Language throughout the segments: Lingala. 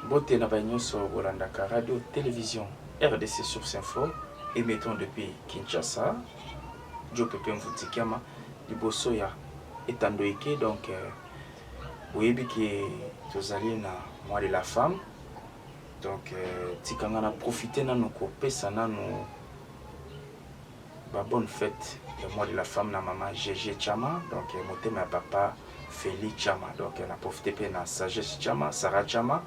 Mbote na baye nionso bolandaka radio television rdc source info emettant depuis Kinshasa Djo Pepe Mvunzi Kiama liboso ya etando eke donc boyebi ke tozali na mois de la femme donc tika nga na profite nanu kopesa nanu Ba bonne fete ya mois de la femme na maman Gege Chama donc motema ya papa Feli Chama donc na profite pe na sagesse Chama Sarah Chama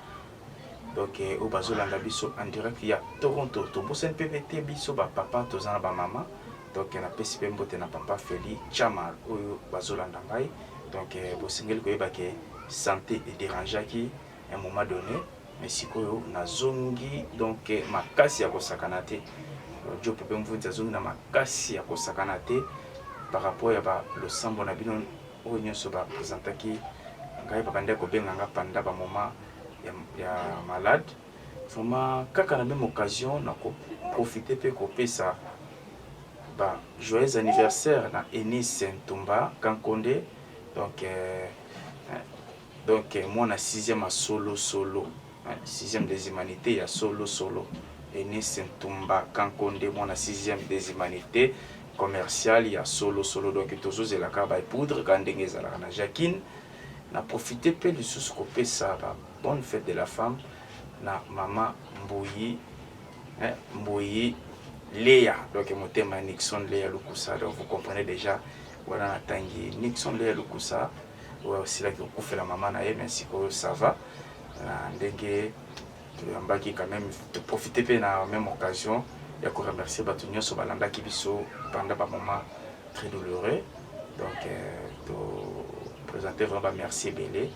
donc oyo bazolanda biso en direct ya Toronto tobosani pe pe te biso ba papa toza na ba mama donc napesi pe mbote na papa Feli Chama oyo bazolanda ngai donc bosengeli koyeba ke sante ederangeaki un moment donné mais sikoyo nazongi donc eh, makasi ya kosakana te job mpe mvunzi azongi na makasi ya kosakana te par rapport ya balosambo na bino oyo nyonso bapresentaki ngai babandaki kobenga nga panda bamoment ya, ya malade vraiment kaka na meme occasion na koprofite mpe kopesa ba joyeux anniversaire na enis ntumba kankonde donc euh, Donc mwana sixième ya solo solo sixième des humanites ya solo solo Eunice Ntumba Kankonde mwana sixième des humanites commercial ya solo solo donc tozozela kaka ba poudre kaka ndenge ezalaka na Jacquine na profite mpe lisusu kopesa ba bonne fête de la femme na mama Mbuyi eh, Mbuyi Lea donc motema Nixon Lea Lukusa donc vous comprenez déjà wana natangi Nixon Lea Lukusa oyo asilaki kokufela mama na ye mais sikoyo ça va na ndenge toyambaki quand même toprofite mpe na même occasion ya koremercier bato nyonso balandaki biso pendant bamoment très douloureux donc euh, topresente vraiment bamerci ebele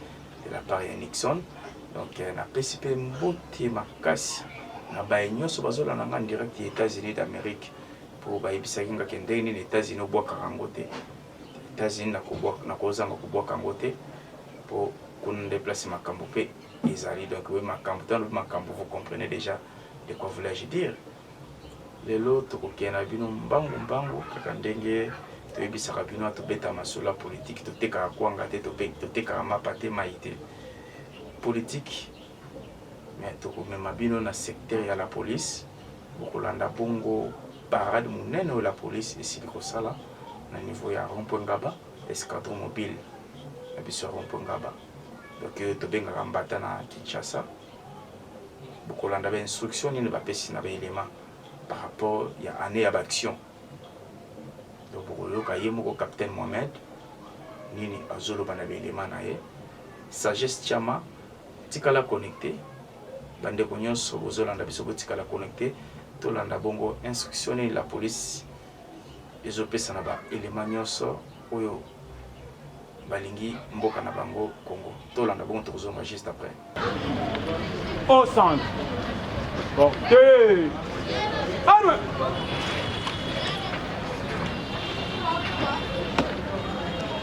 de la part ya nixon donc euh, napesi mpe mbote makasi na baye nyonso bazolanda nga direct ya états-unis d'amérique mpo bayebisaki nga ke ndenge nini états-unis obwakaka yango te Etats-Unis nakobwaka nakozanga kobwaka yango te po kuna nde place makambo pe ezali donc boye makambo to alobi makambo vous comprenez déjà de quoi voulais-je dire lelo tokokende na bino mbangu mbangu kaka ndenge toyebisaka bino tobeta masolo ya politiki totekaka kwanga te totekaka mapa te mai te politiki mais tokomema bino na secteur ya la police bokolanda bongo parade monene oyo la police esili kosala na niveau ya rond-point Ngaba escadron mobile na biso ya rond-point Ngaba donc euh, tobengaka mbata na Kinshasa bokolanda ba instruction nini bapesi na baelema par rapport ya année ya baaction donc bokoyoka ye moko capitaine Mohamed nini azoloba na baelema na ye sagesse chama Tikala connecte ba ndeko nionso bozo landa biso botikala connecte tolanda bongo instruction nini la police ezo pesa na ba element nionso oyo balingi mboka na bango Congo tolanda bongo tokozonga juste après au centre portez arme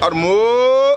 Armo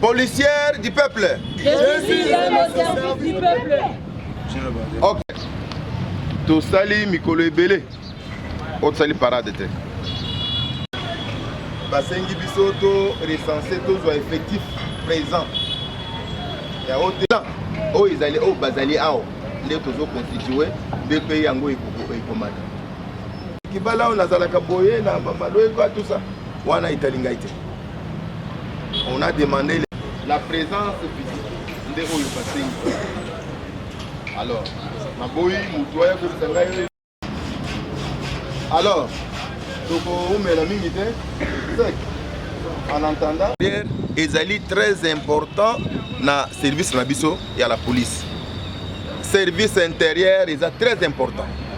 Policière du peuple. Je suis au service du peuple. Ok. tosali mikolo ebele oyo tosali parade te basengi biso to recense tozwa effectif présent ya oyo te oyo ezali oyo bazali awa nde tozoconstitue nde mpe yango ekomata kibala oyo nazalaka boye na bamalweko atusa wana etali ngai te On a demandé la présence physique nde oyo basengi. Alors, naboyi motu aya koyebisa ngai. Alors, tokoumela mingi te sec en entendant ezali très important na service na biso ya la police service intérieur eza très important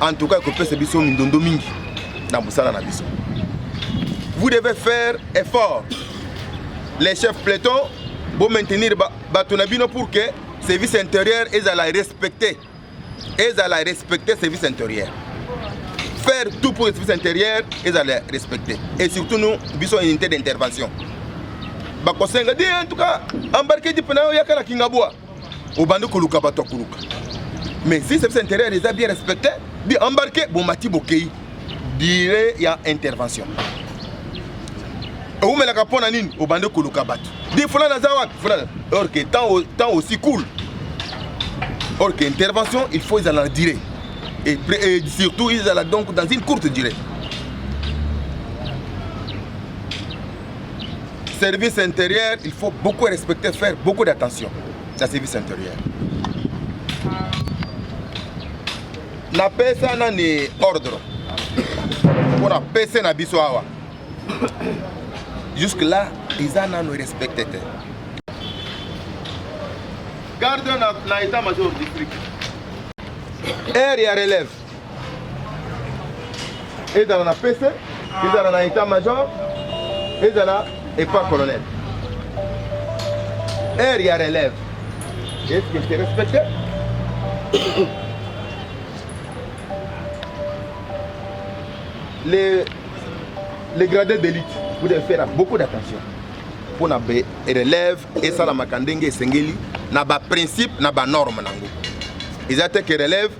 en tout cas ekopesa biso mindondo mingi na mosala na biso vous devez faire effort les chefs platon bo maintenir bato na bino pour que service intérieur ezala respecté ezala respecté service intérieur faire tout pour le service intérieur ezala respecté et surtout nous biso unité d'intervention bakosenga di en tout cas embarqué dipe na yo yaka na kingabwa obandi koluka bato ya koluka mais si service intérieur eza bien respecté bi embarqué bomati bokei dire ya intervention ewumelaka mpo na nini obandi koluka bato di fulana aza wapi fulana or que temps aussi cool or que intervention il faut ezala na dire et, et surtout ezala donc dans une courte durée service intérieur il faut beaucoup respecter faire beaucoup d'attention na service intérieur napesa nani ordre mpo na pese na biso awa jusque là eza nano respecte te garde na, na état major district aire ya relève ezala na pese ezala na etat major ezala epa colonel heure ya relève est ce que c'est respecté les, les gradés d'élite vous devez faire beaucoup d'attention mpo na relève esalamaka ndenge esengeli na baprincipe na banorme na yango eza te ke relève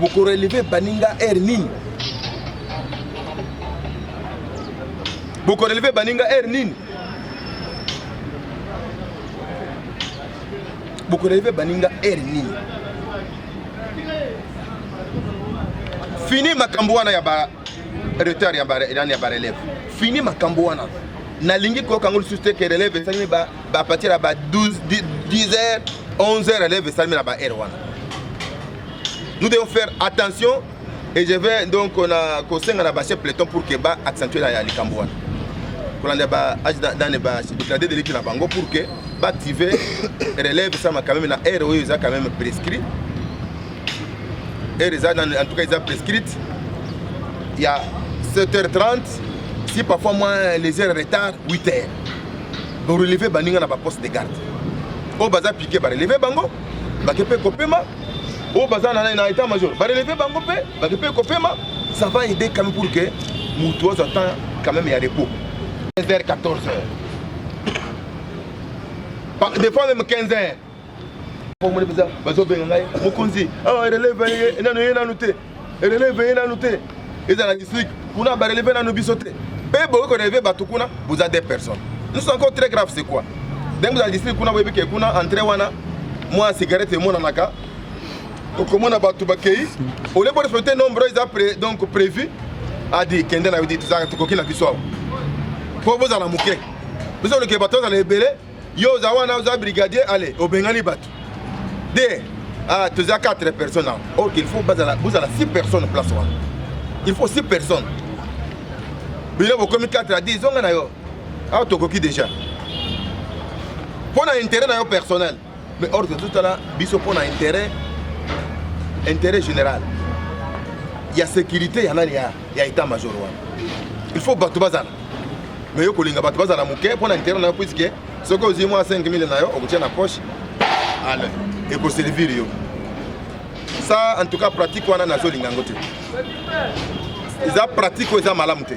bokoreleve baninga heure nini bokoreleve baninga heure nini bokoreleve baninga heure nini fini makambo wana ya ba retard ya bareleve ya ba fini makambo wana nalingi koyoka yango lisusu te ke relève esalemi bapartir ya ba 10 heures 11 heures relève esalemi na ba heure wana nous devons faire attention et je vais donc on a kosenga na base peloton pour que ba accentuer la likambo wana kolanda ba age dane ba déclaré de l'équipe na bango pour que ba activer relève ça ma quand même na heure oyo eza quand même prescrit heure eza en tout cas eza prescrite il y a 7h30 si parfois moins les heures retard 8h donc relever baninga na ba poste de garde oyo baza pike bareleve bango bake mpe kopema oyo baza na nani na etat major bareleve bango mpe bake mpe kopema ça va aider quand même pour que moto azwa temps quand même ya repos 15 heures 14 heures des fois même 15 heures omoni mpenza bazobenga ngai mokonzi awa releve ye nano ye nano te elele eveye nanu te ezala district kuna bareleve nanu biso te mpe bokoki koreleve bato kuna boza deux personnes nous encore très grave c'est quoi ndenge bozala district kuna boyebi ke kuna entre wana mwa cigarette emonanaka okomona bato bakei olie borespecte nombre oyo eza donc prévu adi kende na yo di tokoki na biso awa mpo bozala moke biso oleke bato ozala ebele yo oza wana oza brigadier ale obengani bato de ah, toza 4 personnes awa ok il faut bozala 6 personnes place wana il faut 6 personnes bino bokomi 4 adi zonga na yo awa tokoki déjà mpo na intérêt na yo personnel mais or tozotala biso mpo na intérêt intérêt général ya sécurité ya nani ya état major wana il faut bato bazala mais yo kolinga bato bazala moke mpo na interet na yo puiske soki ozwi mwa 5000 na yo okotia na poche ale ekoservir yo sa en tout cas pratique wana nazolinga yango te eza pratique oyo eza malamu te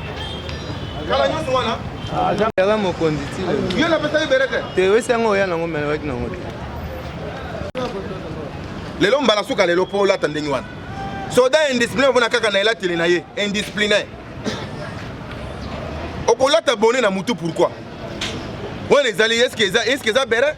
kala nyonso wana aza mokonzi ti yo napesaki bere te te oyesi yango oya nango melewaki nango te lelo mbala suka lelo mpo olata ndenge wana soda indiscipline omona kaka na elateli na ye indiscipline okolata bone na motu pourkui wana ezali eske eza bere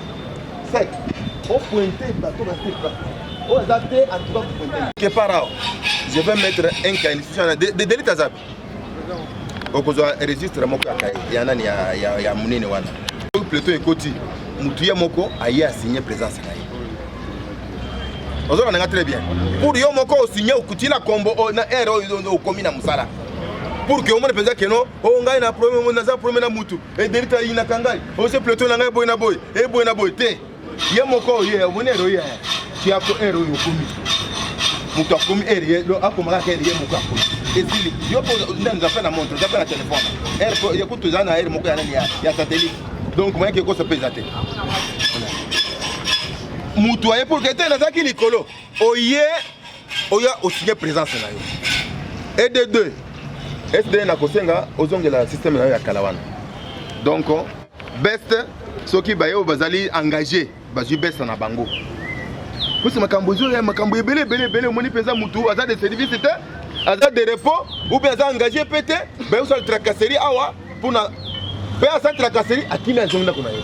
sec o pointe bato na te pas oyo aza te en tout cas pointe que par là je vais mettre un cas institution na de delit azabi okozwa registre moko ya kaye ya nani ya, ya, ya monene wana soki plateau ekoti motu ye moko aye asigne présence na ye ozolanda nga très bien pour yo moko osigne okutila kombo na heure oyo okomi na mosala pour que omone mpenza keno oyo oh, ngai na problème naza problème na mutu ederita ayinaka ngai ose oh, plateau na ngai boye na boye eboye eh, na boye te ye moko oye omoni ero ye tiako ero oyo okomi moto akomi ere ye akomaka kaka ere ye moko akomi ezili yo mpo ndenza mpe na montre oza mpe na telefone ere ye kutu eza na ere moko ya nani ya satellite donc mayaki ekosa mpe eza te moto aye pour que te nazalaki likolo oye oya osigne présence na yo et de deux sd nakosenga ozongela système na yo ya kala wana donc best soki baye oyo bazali engage bazwi best na bango mposa makambo ezoya makambo ebele ebele ebele omoni mpenza motu aza de service te aza de repos ou bien aza engage mpe te baye osala tracasserie awa mpona mpe asala tracasserie akimi azongi ndako na ye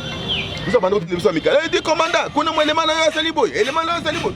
biso banda kotinde biso ya mikala edi komanda kuna mo elema na yo asali boye elema na yo asali boye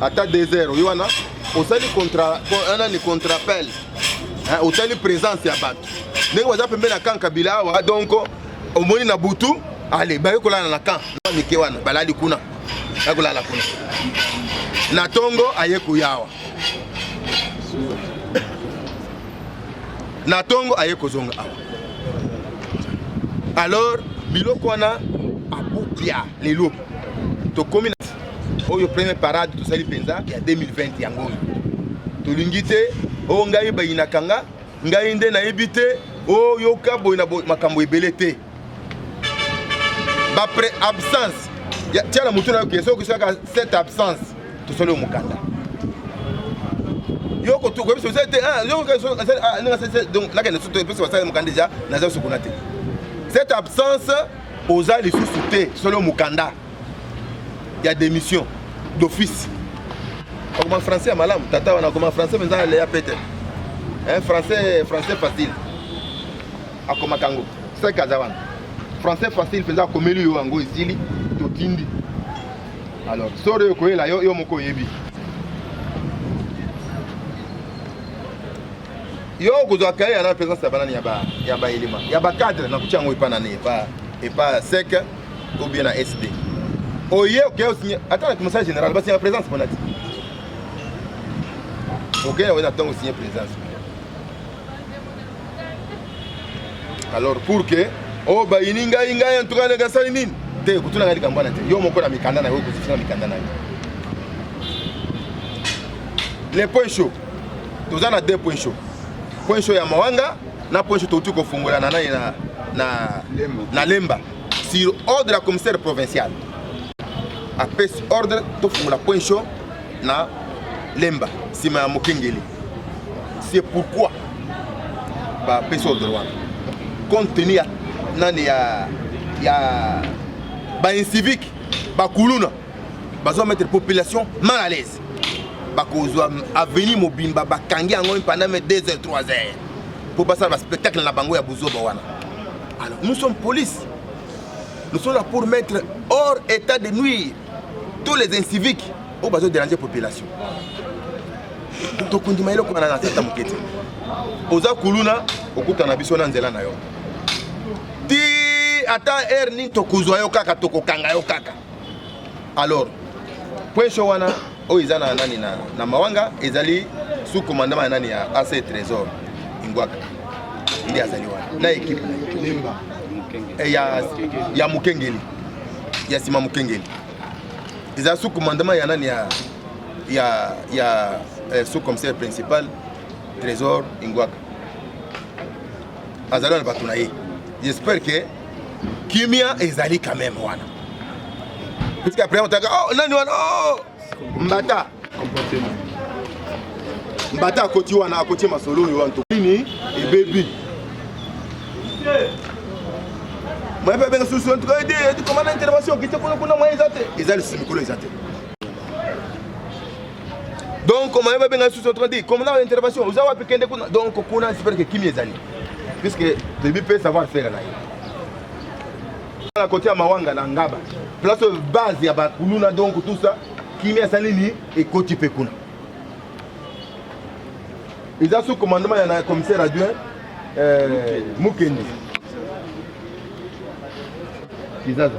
ata desert oyo wana osali nani contrapel otali présence ya bato ndenge baza pembe na kan kabila awa donc omoni na butu ale baye kolala na kan mike wana balali kuna baye kolala kuna na tongo aye koyawa na tongo aye kozonga awa alors biloko wana abupia lelo tokomi oyo premier parade tosali mpenza ya 2020 yango oyo tolingi te o oh, ngai bayinaka nga ngai nde nayebi te oyoka oh, boye na makambo ebele te bapre absence tia na motu na yo ke soki osalaka cette absence tosali yo mokanda yokoyebisa osali te ah, ah, donc nakende soto epesi basali mokanda deja naza sukuna te cette absence oza lisusu te tosali yo mokanda ya démission d'office akoma français ya malamu tata wana akoma français mpenza aleya pete eh, français français facile akomaka yango seke aza wana français facile mpenza akomeli yo yango esili totindi alors sore okoyela yo yo moko oyebi yo okozwa kaye yana mpenza sabanani ya baelema ya bacadre nakuti yango epa nani epa epa seke ou bien na SD oye oke osinye ata na commissaire général basinga présence mpona ti oke na oye na ntango osinye présence alors pour que oyo oh, bayini ngai ngai antuka ndenge asali nini te kotuna ngai likambo wana te yo moko na mikanda na yo okozifisa na mikanda na yo le point chaud toza na deux point chaud point chaud ya mawanga na point chaud touti kofungolana nani na, na, na lemba sur ordre ya commissaire provincial apesi ordre tofungola point chaud na lemba nsima ya mokengeli c'est pourquoi bapesi ordre wana compte tenu ya nani ya ya bainsivique bakuluna bazo mettre population mal à l'aise bakozwa avenir mobimba bakangi yango pendant 2 heures 3 heures mpo basala baspectacle na bango ya buzoba wana Alors, nous sommes police. Nous sommes là pour mettre hors état de nuire tous les inciviques oyo oh, bazoderange population tokondima eloko wana na tata moke te oza kuluna okutana biso na nzela na yo ti ata heure nini tokozwa yo kaka tokokanga yo kaka alors poinso wana oyo eza na nani na, na mawanga ezali sous commandement ya nani ya ac trésor ingwaka nde azali wana na ekipe eh, ya, ya mokengeli ya nsima mokengeli eza sous commandement ya nani ya, ya, ya eh, sous commissaire principal trésor ingwaka azali wana bato na ye j'espère que kimia ezali quand même wana puisque après otaka oh nani wana oh mbata mbata akoti wana akoti masolo oyo wana tokini ebebi moye mpe abenga susu en tout cas ede komana intervention okite kuna kuna moye eza te eza lisusu mikolo eza te donc komanda babenga susu otrandi komanda wa intervention oza wapi kende kuna donc kuna espere ke kimi ezali puisque toyebi mpe savoir faire na ye na kote ya mawanga na ngaba place oyo base ya bakuluna donc tout ça kimi asali nini ekoti mpe kuna eza sous commandement ya na commissaire adjoint euh, mukende kizaza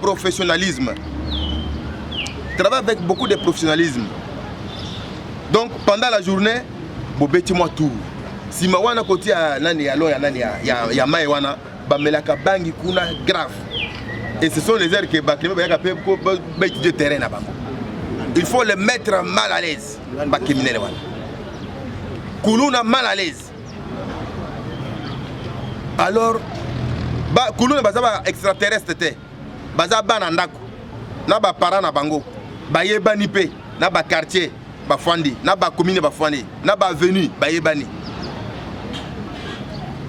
professionnalisme travaille avec beaucoup de professionnalisme donc pendant la journée bobeti mwa tour nsima wana kotia nani ya loya nani ya, ya, ya mai wana bamelaka bangi kuna grave et ce sont les heures que bakimi bayaka mpe baétudie terrain na bango il faut le mettre mal à l'aise bacriminele wana kuluna mal à l'aise alors bakuluna baza ba extraterrestre te baza bana ndako na bapara na bango bayebani mpe na bakartier bafandi na bakomine bafandi na bavenu bayebani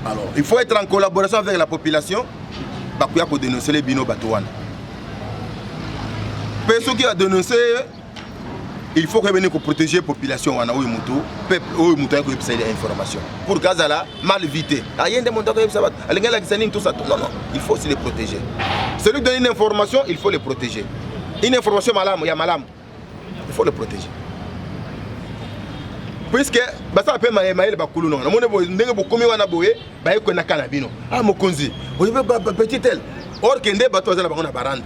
alors il faut être en collaboration avec la population bakoya kodenoncele bino bato wana mpe soki adenoncele il faut koyeba nini koprotege population wana oyo motu peuple oyo motu ayaki koyebisa ye information pour que azala mal vite aye nde moto akoyebisa bato alingi alakisa nini tosa non non il faut aussi le protéger celui donne une information il faut le protéger une information malamu ya malamu il faut le protéger puiske basala mpe maye mayele bakulu nonga namoni boye ndenge bokomi wana boye baye kwenaka na bino a ah, mokonzi oyebi petit tel or ke nde bato baza na bango na baranda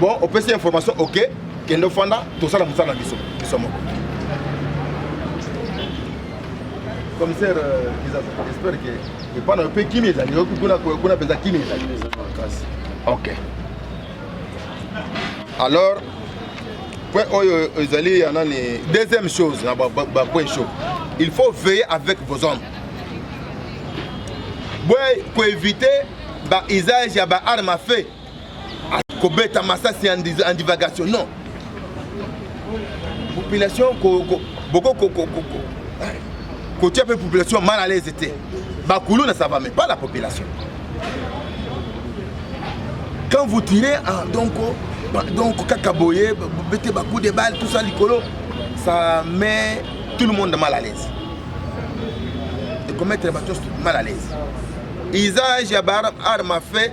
Bon, opesi information, ok, kende ofanda, tosala mosala na biso, biso moko. Commissaire, euh, j'espère que epai na yo mpe kimia ezali, kuna mpenza kimia ezali. Ok. Alors, point oyo ezali ya nani deuxième chose na bapoint chaud il faut veiller avec vos hommes boye koevite bausage ya baarme à feu kobeta masasi en divagation non population boko kotia mpe population mal à l'aise te bakuluna ça va mais pas la population quand vous tirez ah, donc donc kaka boye bete bacoup de balle tout ça likolo ça met tout le monde mal à l'aise ekommettre bato mal à l'aise usage ya baarme à fait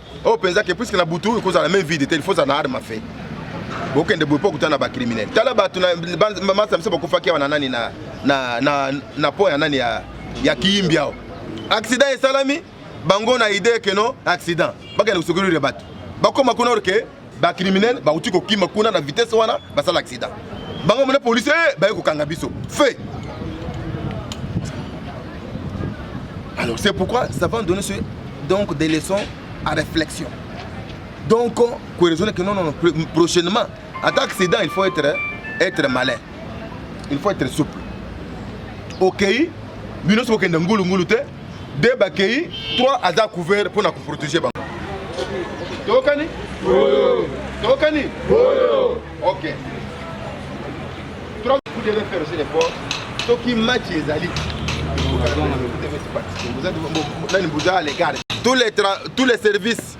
oyo oh, mpenza ke puiske na butu ekozala main vide te ilfaut na arme fe bokende boye mpo okuta na bacriminel tala bato masa biso bakufaki awa na nani na po ya nani ya kiyimbi awa accident esalami bango na idee keno accident bakende kosokolire bato bakoma kuna orke ba criminel bakuti kokima kuna na vitesse wana basala accident bango mona policier eh, baye kokanga biso fait alors c'est pourquoi ça va donner ce, donc des leçons à réflexion donc koraisonne que non non prochainement ata accident il faut être être malin il faut être souple okei okay, bino sokokenda ngulungulu te de bakei 3 aza couvert mpo na koprotege bango tokani tokani ok vous devez faire aussi l'effort soki match ezali nani boza à l'égard tous les services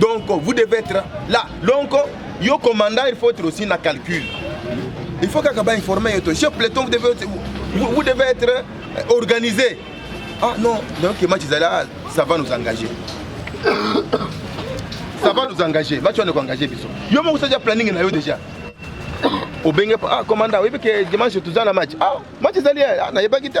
donc vous devez être là donc yo commandant il faut être aussi na calcul il faut kaka bainforme yo to chef platon vous devez, vous, vous devez être euh, organisé ah non donc match ezali ah, ça va nous engager ça va nous engager match wana ekoengage biso yo moko osalia planning na yo déjà obenge ah commanda oyebi ke dimanche toza na match ah match ezali eh, ah, nayebaki te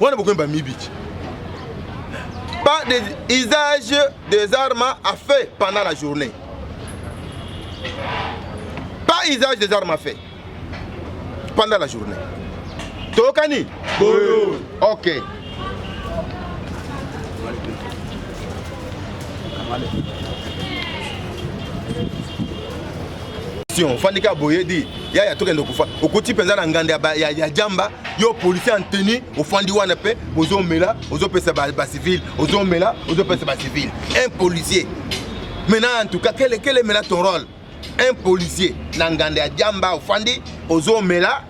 wana bokomi bamibiki pas des usages des armes à feu pendant la journée pas usage des armes à feu pendant la journée toyokani ok Thank you. ofandi kaka boye di yaya tokende kofa okoti mpenza na nganda ya, ya, ya jamba yo policier en tenue ofandi wana mpe ozomela ozopesa bacivile ba ozomela ozopesa bacivile un policier maintenant en tout cas kele kele mela ton rôle un policier na nganda ya jamba ofandi ozomela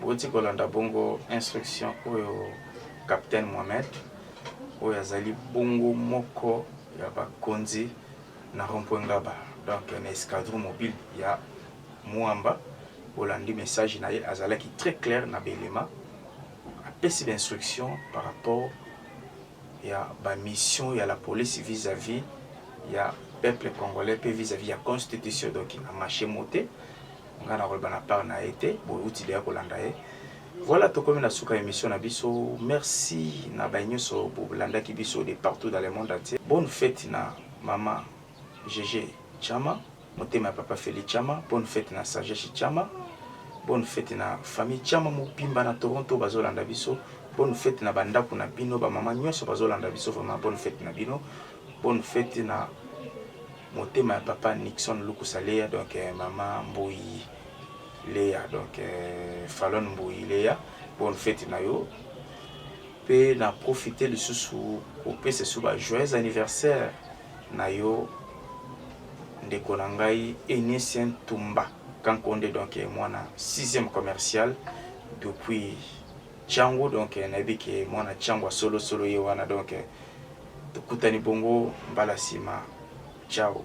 Bouti kolanda bongo instruction oyo Capitaine Mohamed oyo azali bongo moko ya bakonzi na rond-point Ngaba donc na escadron mobile ya Muamba bolandi message na ye azalaki très clair na belema apesi ba instruction par rapport ya ba mission ya la police vis-à-vis ya peuple congolais mpe vis-à-vis ya constitution donc na marché mote nga na koloba na part na ye te bowuti deya kolanda ye voilà tokomi na suka ya émission na biso merci na baye nyonso bolandaki biso de partout dans le monde entier bonne fête na mama gg chama motema ya papa feli chama bonne fête na sagesse chama bonne fête na famille chama mobimba na toronto bazolanda biso bonne fête na bandako na bino bamama nyonso bazolanda biso vraiment bonne fête na bino bonne fête na Motema ya papa Nixon lukusa leya donc mama mbuyi leya donc falon mbuyi leya bonne fete na yo mpe na profite lisusu kopesa esu ba joyeux anniversaire na yo ndeko na ngai enicien tumba kankonde donc mwana 6e commercial depuis Changu donc nayebi ke mwana Changu ya solo solo ye wana donc tokutani bongo mbala sima ciao.